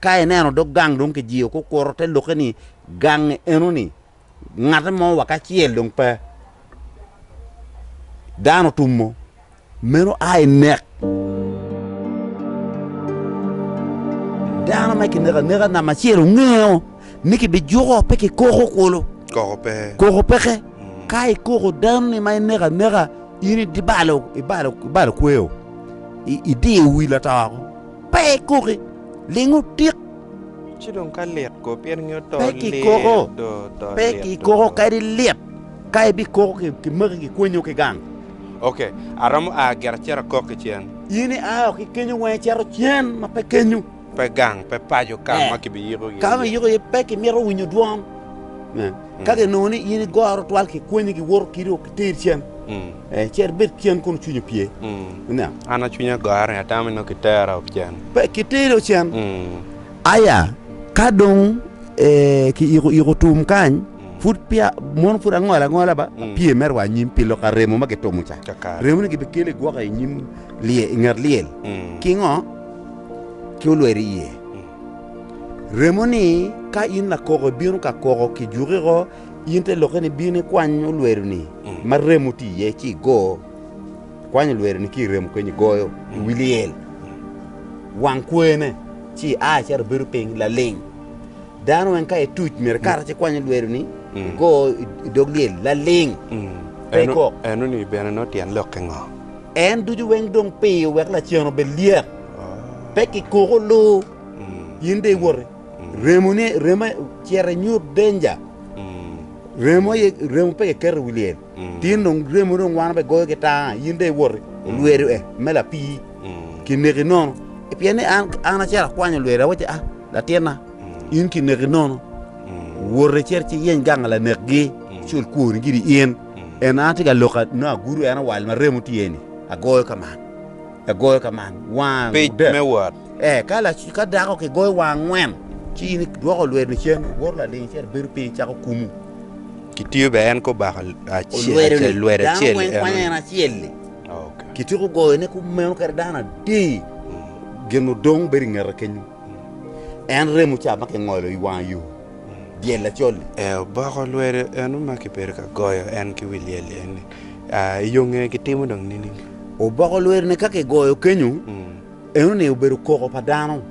Ka ineno dog gang dong kijiyo, kukuto te lokke ni, Gangi enoni, ngate mo wa ki acel dong pe. Dano otumo, meno a i nek. Dano ma kineko aneka namba acel ongeyo ni kibijuko, pe kikoko kulu. Koko pe. Koko peke. Ka ikoko danoni ma ineko aneka, in idibalo, ibalo, ibalo kweo. I- Idiyo wi lato woko. Pe ikuki, ling otik. Ci dong ka lit ko, pien ngeyo to lit do, to lit do. Pe kikuko kadi lit, ka ibikuko kimaki kikwonyo ki gang. Ok, aromo a gire acito akok ki cen. In ia woko ki kenyo weng icito cen ma pe kenyo. Pe gang, pe paco ka ma kibiyiko iye. Ka ma iyiko iye pe kimito winyo dwon. Ka ginongo ni in igoro twal kikwonyo giwoto kidi o kiteri cen. Cer ibed cen kun cwinyi opye. An cwinya gore, atamo ni nongo kitera ocen. Pe kiteri ocen. Aya, ka dong kiyiko iko tum kany, pud peya, mono pud angolo angola ba, apye me rwa anyim pi lok a remo ma gitumo ca. Remoni gibikelo i gwoka i nyim lyel, i nget lyel. Ki ngo? Ki olweri iye. Remoni, ka in lakoko ibino ka koko, kijuki ko, In te lokke ni, Bin ikwany olweloni ma remo tye iye ci igo. Ikwany olweloni ki i remo kenyo igoyo i wi lyel wang kwene, ci ia cito ibedo piny laling. Dano weng ka ituc myero ikato ci ikwany olweloni igo i dog lyel laling, pe ikok. Eno-ni bene nongo tyen lokke ngo? En ducu weng dong piyo wek lacen obed lyet, pe kikoko lu, in dong iwoti. Remone, remo cito inyut danger. Remo aye, remo pe kiketo i wi lyel. Tin dong remo dong wan abe goyo ki tanga, in dong iwoti olwedo e me lapii, kineki nono. Pien ni an, an acito akwanyo olwedo, awacci, ah, latinna, in kineki nono, woti cit ci yeny ganga lanekgi, cul kwoni giri in. En an atye ka loka nongo agudo en awal ma remo tye-ni, agoyo ka man, agoyo ka man, wang, Pic me wot. Eka laco ka dako kigoyo wa angwen, ci in idwoko lwedo cen, iwoto laling acel, ibedo piny, icako kumu. Kitiyo bene en kobako Olwedoni, lwedo dano acel. weng kwanyo en acel-li. Okay. Kityeko goyone kumeno kede dano adi, gin odong bedo ingete kenyo. En remo ca ma kingolo i wang yo, dyel lacol-li. Eh, oboko lwedo eno ma kibedo ka goyo en ki wi lyel eni. Ah, i yo ngeye kitimo dong nining? Oboko lwedone ka kigoyo kenyo, Mm. Enoni obedo koko pa dano,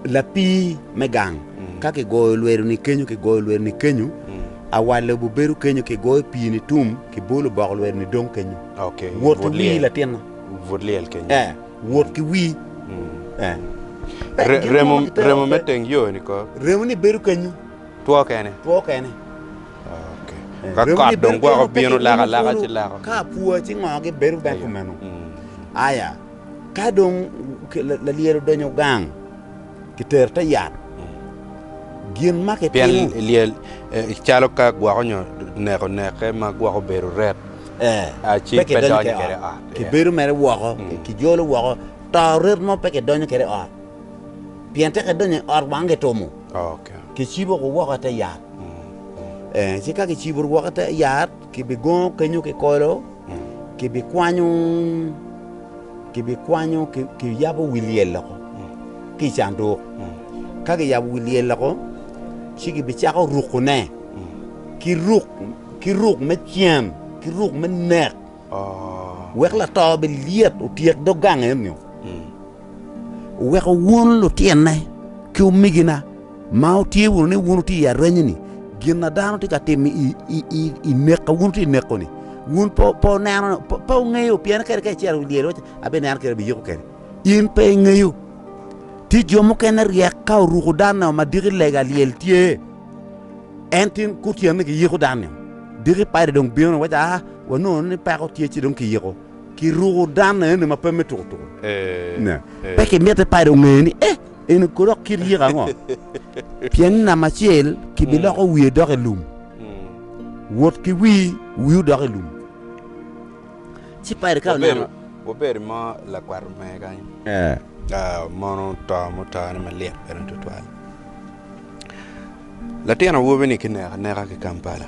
lapii me gang. Ka kigoyo lwedo ni kenyo, kigoyo lwedo ni kenyo, awal lobo bedo kenyo, kigoyo pii ni tum, kibo lubok lwedo ni dong kenyo. Wot ki wii latinna. But lyel kenyo. Eh, wot ki wii. Eh. Remo, remo me teng yo ni ko. Remo ni bedo kenyo. Two kene. Two kene. Ka kot dong gwoko bino laka laka ci lako. Ka apua ci ngo gibedo bene kumeno. Aya. Ka dong lalyel odonyo gang, kitero te yat. Gin ma kitimo... Pien lyel eh, calo ka gwoko nyo neko neke ma gwoko bedo ret. Eh, pe kidonyo kede i ot. Kibedo mere woko, mm. kijolo woko. To ret mo pe kidonyo kede i ot. Pien te kidonyo i ot wang kitumo. Oh, okay. Kicibo ko woko te yat. Mm. Eh, ci ka kicibo woko te yat, kibigongo kenyo kikolo. kibikwanyo kibikwanyo kiyabo wi lyel loko ki i canduk ka kiyabo wi lyel loko ci kibicako rukone ki ruk ki ruk me cen ki ruk me nek wek lato bilyet otyek dog gang enio Weko wun lutyenna ki omegina ma wutye wunu ni wun wutye i aranyeni, gin ma dano tye ka timo i nek ma wun wutye ka neko-ni, wun pe wungeyo pien kadi ka icito i dyere iwaci abineno kadi abiyiko kede, in pe ingeyo. Tye jo mukene ryek ka oruko danne ma diki lega lyel tye, ento in kutyeni giyiko danni, diki padi dong bino ni waci aa wanongo ni peko tye ci dong kiyiko Kiruko dan enoni ma pe me tuko tuko. Ne, pe kimite pado onge ni e, eni kono dok kit yiko ango? Pien ni namba acel kibiloko wiye doko i lum, wot ki wi wiu doko i lum. Ci Paido ka oneno. Wabed mo lakwat omege kany. Mono to mutone malit bene tutwal. Latin awobi-ni kineko aneka ki Kampala.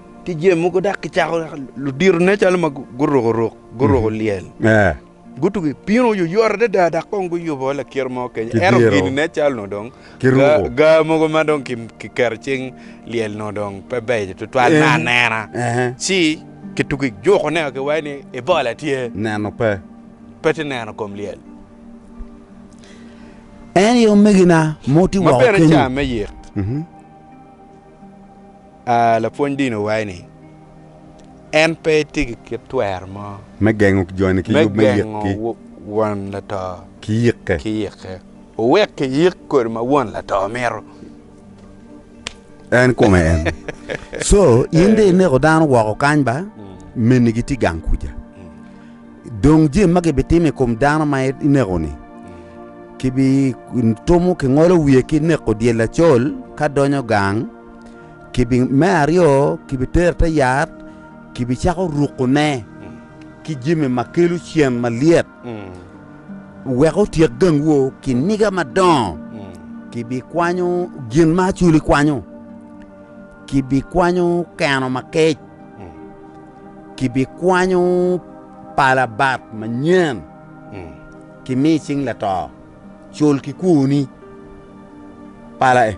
ki jami mogo dok kicako luditone calo ma guruko ruk guruko lyel, gutugo i pino oyoyot adada dok kong guyubo lakiro mo kenyo. Ento gin nen calo nongo dong gaa mogo ma dong kiketo cing lyel nongo dong pe beco tutwal me anena, ci kitugo ijuko ne kiwaco ni Ebola tye, neno pe pe tye neno kom lyel. En aye omegina mo tye woko kenyo. A Lapwony dini owaco ni, En pe tye ki kit twero mo. Me gengo joni ki yub me yik ki. Me gengo won lato ki yike. Ki yike. Wuwek ki yik kodi ma won lato mito. En kome en. Co, in de ineko dano woko kany ba? Meni gitye gang kuca. Dong jemi ma gibitimo i kom dano ma ineko-ni, kibitumo kingolo wiye ki neko dyel acol ka donyo gang. Me aryo, kibitere i te yat, kibicako rukone ki jami ma kelo cen malyet, wek otyek gang wo ki niga madongo. Kibikwanyo gin ma acoli kwanyo, kibikwanyo keno ma kec, kibikwanyo pala bat manyen, kimi cing lato. cul ki kwoni pala e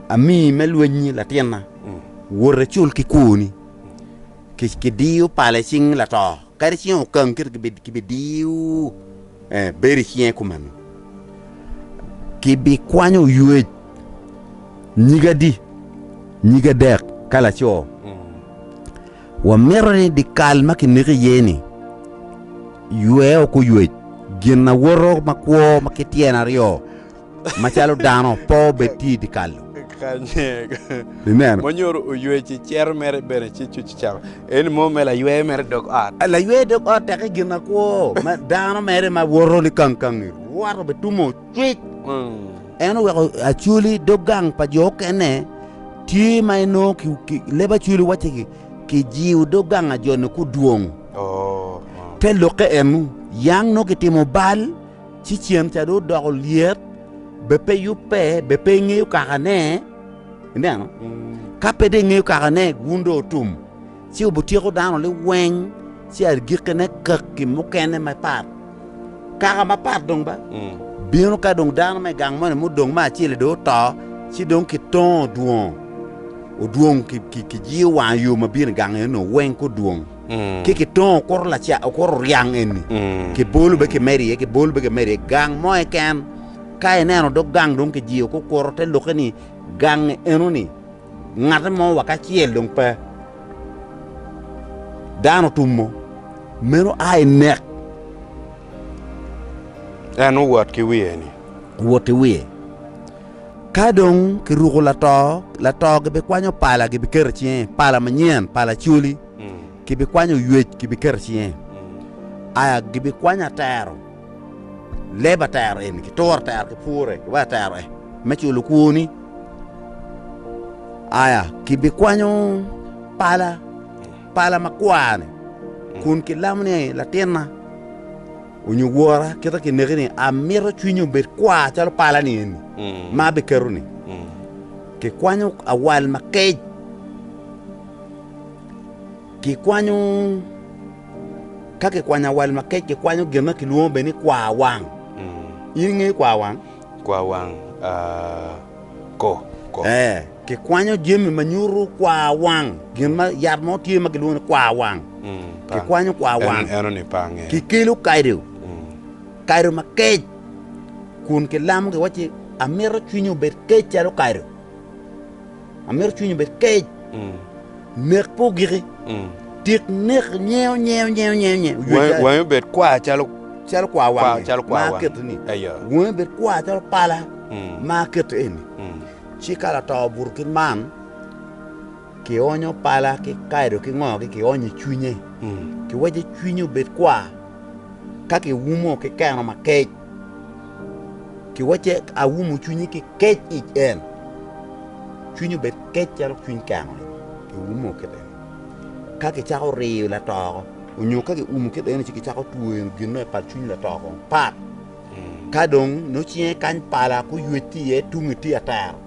amii me lwenyi latinna wote cul ki kwoni kidiyo pala icing lato kadi icing okang kiti kibidiyo eh bedo icinge kumeno kibikwanyo ywec nyig adi nyig adek ka laco Wamito ni dyekal ma kineko iye-ni ywe oko oywec gin awoto makwo ma ki tyen aryo macalo dano pe obed tye i dyekal-lu. Mo nyuto oywec i cere mere bene ci cuc cecako. Eni mo me laywe mere dog ot. Laywe dog ot teke gin akwo ma dano mere ma woto ni kangkangi rwato bitumo Tic. En oweko Acoli dog gang pa jo okene tye ma inongo leb Acoli wacce kijiyo dog gang a jo-ni ku dwong. Te lokke en yang nongo kitimo bal ci cen ca dong odoko lyet be pe yubbe be pe ingeyo kakane ineno ka pe dong ingeyo kakane wun dong otum. Ci obutyeko dano liweng, ci agikkine kaki mukene mapat, kaka mapat dong ba, bino ka dong dano me gang moni mudong me acel-li dong oto, ci dong kitongo dwongo odwong kijiyo wang yo ma bino i gang eno weng ki odwong, ci kitongo okuto oryang eni, kibolo bene kimedo iye, kibolo bene kimedo iye, gang mo keken. Ka ineno dog gang dong kijiyo ki okuto, te lokke ni, Gangi enoni. Ngat mo wa kacel dong pe. Dano otumo, meno a i nek. En owot ki wiye-ni. Owot ki wiye. Ka dong kiruko lato, lato gibikwanyo pala gibiketo i cinge, pala manyen, pala coli, gibikwanyo ywec gibiketo i cinge, aya gibikwanyo atero. Leb atero eni kituro atero ki pure iwa atero e me culo kwoni. Aya, kibikwanyo pala, pala makwar-ni, kun kilamo ni, Latinna onyo wora, kita kineki ni amito cwinyi obed kwar calo pala-ni eni ma abiketo-ni. Kikwanyo awal makec, kikwanyo. Ka kikwanyo awal ma kec, kikwanyo gin ma kilwongo bene ni kwaa wang. In ingeyo kwaa wang? Kwaa wang, aa, ko, ko. Ee, kikwanyo jami ma nyuto kwaa wang. Gin ma yat mo tye ma kilwongo ni kwaa wang. Kikwanyo kwaa wang. Eno-ni pe angeo. Kikelo kado, kado ma kec, kun kilamo giwaci, Amito cwinyi obed kec calo kado. Amito cwinyi obed kec. Nek pe ogiki. Tik nek nyeo nyeo nyeo nyeo nyeo. Wangi wangi obed kwar calo Calo kwar Kwar wangi calo kwar ma wangi. aketo ni. Ayo. Wangi obed kwar calo pala Mm. ma aketo eni. Mm. Ci ka lato obuto kit man, kionyo pala ki kaido ki ngo ki kionyo i cwinye. Mm. Kiwaco cwinye obed kwar ka kiumo ki keno makec. ki wacce awumu cwinyi ki kec i en cwinyi obed kec calo cwiny keno ni ki wumo kede ni ka ki cako riyo lato oko onyo ka ki umu kede ni ci ki cako twero gin ma ipat cwiny lato kong pat ka dong nongo cinge kany pala ki oywec ki iye tunge tye atero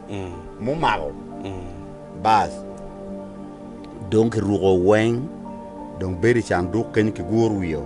mumako bas dong ki ruko weng dong bedo i canduk kenyo ki guru wiye o.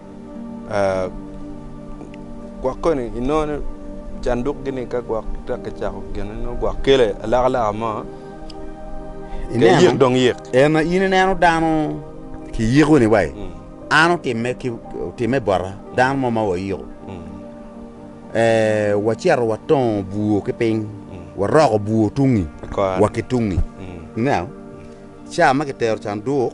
Gwok koni inongo ni canduk gini ka gwok peya kicako gine nongo gwok kele alaka laka mo kiyik dong yik. En in ineno dano kiyiko ni wai mm. an otimme ki otimme bota dano mo ma wayiko mm. eh, wacito watongo bur ki piny mm. waroko bur tungi wa ki tungi mm. now ca ma kitero canduk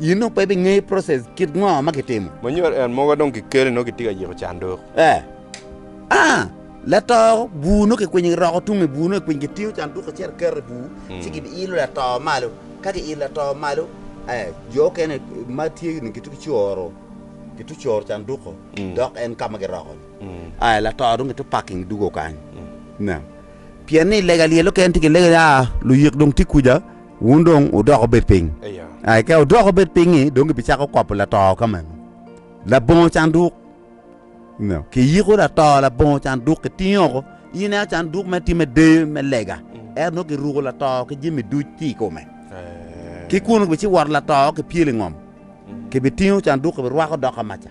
In dong pe ibingeyo process kit ngo ma kitimo. Ma nyuto en moga dong kikele nongo kitye ka yiko canduk. Eh. Ah. Lato bur nongo kikwinyo giroko tung i bur nongo kikwinyo kitingo canduk acel kiketo i bur ci giilo lato malo. Ka giilo lato malo eh jo okene ma tye ni gitu kicoro gitu coro canduko dok en ka ma giroko ni. Ah lato dong gitu parking dugo kany. Ineno. Pien ni lega lyel okene tye ki lege ni ah luyik dong tye kuca. Wun dong wudok wubed piny. A I ka wudok wubed piny-nyi, dong gibicako kobo lato ka meno, labongo canduk. Kiyiko lato labongo canduk, kitinge oko. Ineno canduk mere tye me deyo, me lega, ento nongo kiruko lato ki jami duc tye i kome. Ki kunu kibici woto lato ki pyelo i ngom, kibitingo canduk kibirwako dok ka maca.